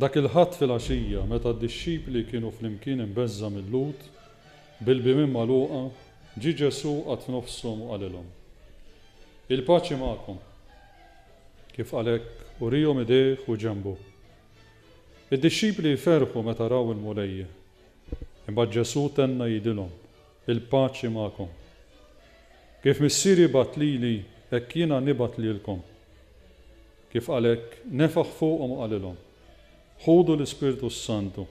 Dak il-Ħadd filgħaxija, meta d-dixxipli kienu flimkien imbeżżgħa mil-Lhud, bil-bibien magħluqa, ġie Ġesù qagħad f'nofshom u qalilhom, Il-paċi magħkom! Kif qal hekk, uriehom idejh u ġenbu. Id-dixxipli ferħu meta raw il-Mulej. Imbagħad Ġesù tenna jgħidilhom, Il-paċi magħkom! Kif Missieri bagħat lili, hekk jiena nibgħat lilkom. Kif għalhekk nefħ fuqhom u qalilhom, Ħudu l-Ispirtu s-Santu,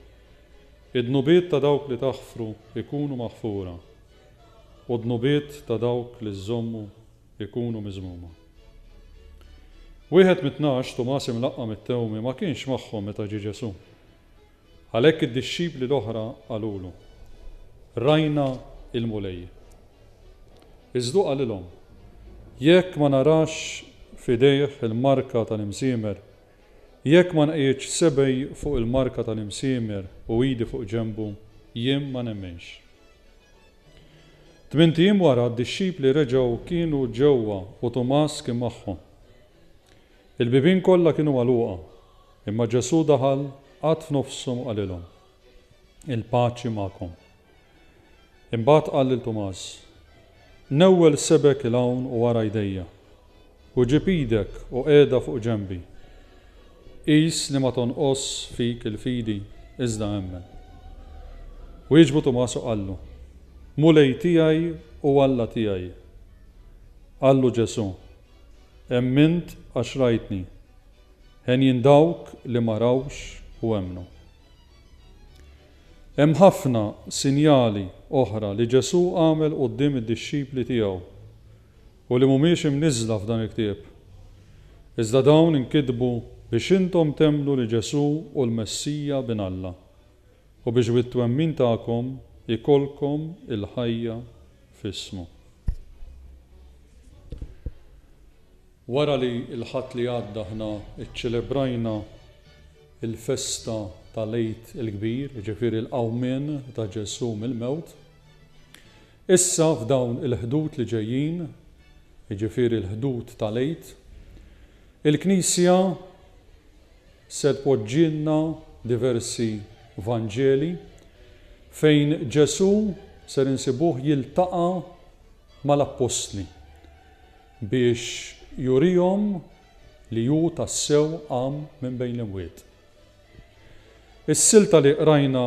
id-dnubiet ta' dawk li taħfru jkunu maħfura, u d-dnubiet ta' dawk li żżommu jkunu miżmuma. Wieħed mit-Tnax, Tumas imlaqqam it-tewmi, ma kienx magħhom meta ġie Ġesù. Għalhekk id-dixxipli l-oħra qalulu, Rajna l-Mulej. Iż hu qalilhom, Jekk ma narax f'idejh il-marka tal-imsiemer, jekk ma nqegħidx sebgħi fuq il-marka tal-imsiemer u idi fuq ġenbu, jien ma nemmenx. Tmint ijiem wara, d-dixxipli reġgħu kienu ġewwa u Tumas kien magħhom. Il-bibien kollha kienu magħluqa, imma Ġesù daħal qatt f'nofshom u qalilhom, Il-paċi magħkom. Imbagħad qal lil Tumas, Newwel sebgħek 'il hawn u wara jdejja, u ġib idek u qiegħda fuq ġenbi. Qis li ma tonqosx fik il-fidi, iżda emmen. Wieġbu Tumas u qallu, Mulej tiegħi u Alla tiegħi! Qallu Ġesù, Emmint għax rajtni. Henjin dawk li ma rawx u emmnu. Hemm ħafna sinjali oħra li Ġesù għamel quddiem id-dixxipli tiegħu u li mhumiex imniżżla f'dan il-ktieb. Iżda dawn inkitbu biex intom temmnu li Ġesù hu l-Messija Bin Alla. U biex bit-twemmin tagħkom ikollkom il-ħajja f'ismu. Wara li l-Ħadd li għadda aħna ċċelebrajna l-festa tal-Għid il-Kbir, jiġifieri l-qawmien ta' Ġesù mill-mewt, issa f'dawn il-Ħdud li ġejjin, jiġifieri l-Ħdud tal-Għid, il-Knisja, Se tpoġġilna diversi Vanġeli fejn Ġesù ser insibuh jiltaqa' mal-appostli biex jurihom li hu tassew qam minn bejn l-imwiet. Is-silta li qrajna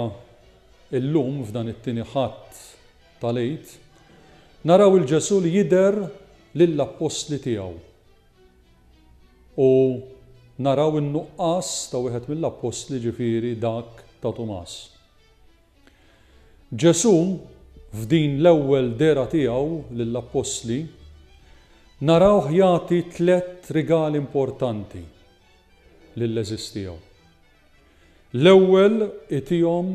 llum f'dan it-tieni Ħadd tal-Għid naraw 'il Ġesù li jidher lill-appostli tiegħu U naraw in-nuqqas ta' wieħed mill-appostli, ġifieri dak ta' Tumas. Ġesù, f'din l-ewwel dehra tiegħu lill-appostli, narawh jagħti tliet rigali importanti lill-għeżież tiegħu. L-ewwel itihom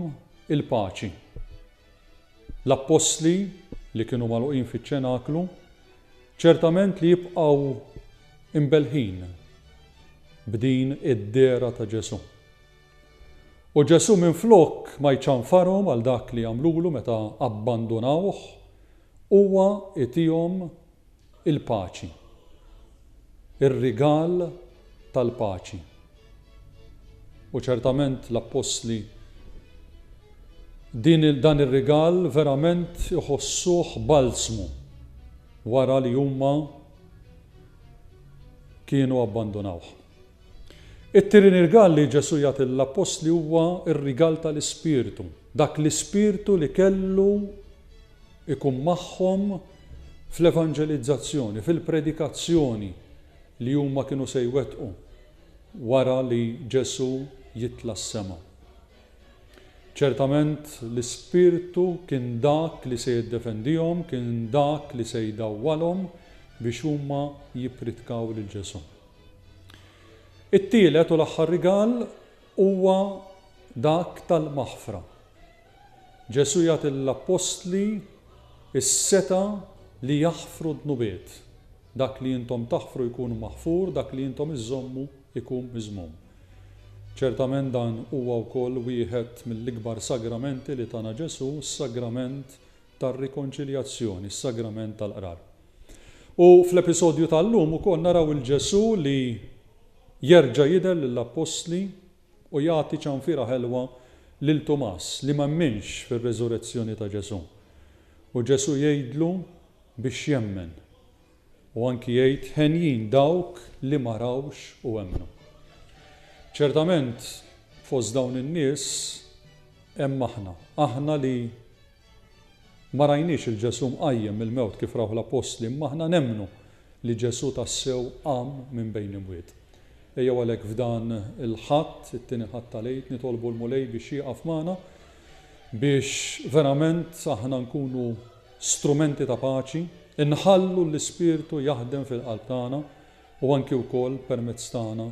il-paċi. L-appostli, li kienu magħluqin fiċ-ċenaklu, ċertament li jibqgħu imbelħin b'din id-dehra ta' Ġesù. U Ġesù minflok ma jċanfarhom għal dak li għamlulu meta abbandunawh, huwa itihom il-paċi, ir-rigal tal-paċi. U ċertament l-appostli din dan ir-rigal verament iħossuh balzmu wara li huma kienu abbandunawh. It-tieni rigal li Ġesu jagħti l-appostli huwa r-rigal tal-Ispirtu, dak l-Ispirtu li kellu ikun magħhom fl-evanġelizzazzjoni, fil-predikazzjoni li huma kienu se jwettqu wara li Ġesù jitla' s-sema. Ċertament l-Ispirtu kien dak li se jiddefendihom, kien dak li se jdawwalhom biex huma jippritkaw lil Ġesù. It-tielet u l-aħħar rigal huwa dak tal-maħfra. Ġesù jagħti lill-appostli s-setgħa li jaħfru d-dnubiet, Dak li intom taħfru jkun maħfur, dak li intom iżżommu jkun miżmum. Ċertament dan huwa wkoll wieħed mill-ikbar sagramenti li tana Ġesù, s-sagrament tar-rikonċiljazzjoni, s-sagrament tal-Qrar. U fl-episodju tal-lum ukoll naraw 'il Ġesù li jerġa' jidher lill-appostli u jagħti ċanfira ħelwa lil Tumas li m'emminx fir-reżurezzjoni ta' Ġesù. U Ġesù jgħidlu biex jemmen. U anki jgħid henjin dawk li ma rawx u emmnu. Ċertament fost dawn in-nies hemm aħna, aħna li Ma rajniex 'il Ġesù mqajjem mill-mewt kif rawh l-appostli imma aħna nemmnu li Ġesù tassew qam minn bejn l-imwiet. Ejjew għalhekk f'dan il-Ħadd, it-tieni Ħadd tal-Għid, nitolbu l-Mulej biex jieqaf magħna biex verament aħna nkunu strumenti ta' paċi, inħallu l-Ispirtu jaħdem fil-qalb tagħna u anki wkoll permezz tagħna